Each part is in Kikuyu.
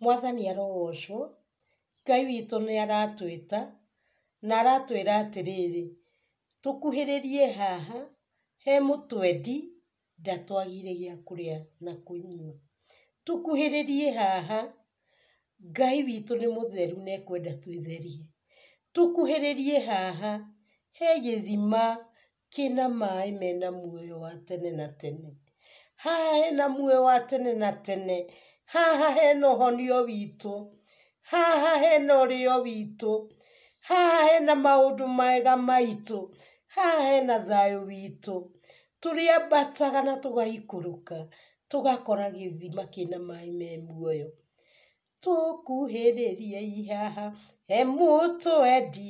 Mwathani arogoocwo, Ngai witũ nĩ aratwĩta, na aratwĩra atĩrĩrĩ, tũkuhĩrĩrie haha, he mũtwendi, ndatwagĩire gĩa kũrĩa na kũnyua. Tũkuhĩrĩrie haha, Ngai witũ nĩ mũtheru na ekwenda twĩtherie. Tũkuhĩrĩrie haha, he gĩthima kĩna maĩ mena muoyo wa tene na tene. Haha hena muoyo wa tene na tene. Haha hena ũhonio witũ. Haha hena ũrĩo witũ. Haha hena maũndũ mega maitũ. Haha hena thayũ witũ. Tũrĩambataga na tũgaikũrũka, tũgakora gĩthima kĩna maĩ me muoyo. Tũkuhĩrĩriei haha, he mũtwendi.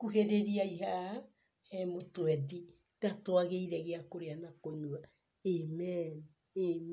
Kuhĩrĩriai haha he mũtwendi ndatwagĩire gĩa kũrĩa na kũnyua. Amen. Amen.